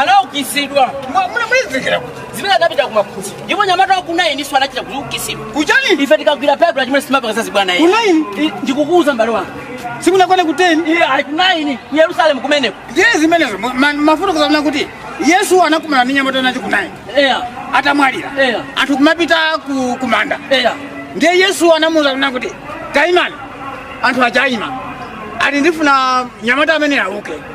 anaukitsidwa munamwezekera kuti zimene anapita kumakhusi ndipo nyamata wakunayi ndiso anachita kuukitsidwa kuchani ife tikagwira baibulo chimene simapanga zazibwana iye kunayi I- ndikukuwuza mbale wanga simunakwana kuteni iye ali kunayi ku yerusalemu kumeneko ndiye zimenezo ma- ma- mafuta kuzamuna kuti yesu anakumana ndi nyamata nacho kunayi eya atamwalira Eya. anthu kumapita ku- kumanda eya ndiye yesu anamuuza kuna kuti taimani anthu achaima ati ndifuna nyamata amene auke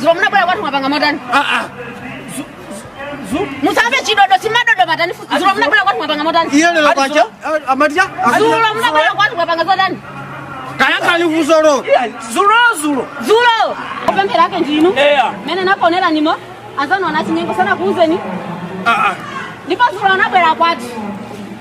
zulo munabwera kwathu mwapanga motani musamve chidodo chimadodo patani futi zulo munabwera kwathu mwapanga motani iye lero kwacha amatya zulo munabwera kwathu mwapanga motani kayakhali vusolo zulo zulo zulo opemphera ake ndinu Eya. mene naponera nimo azanona chinyengo sanakuuzeni ndipo zulo anabwera kwathu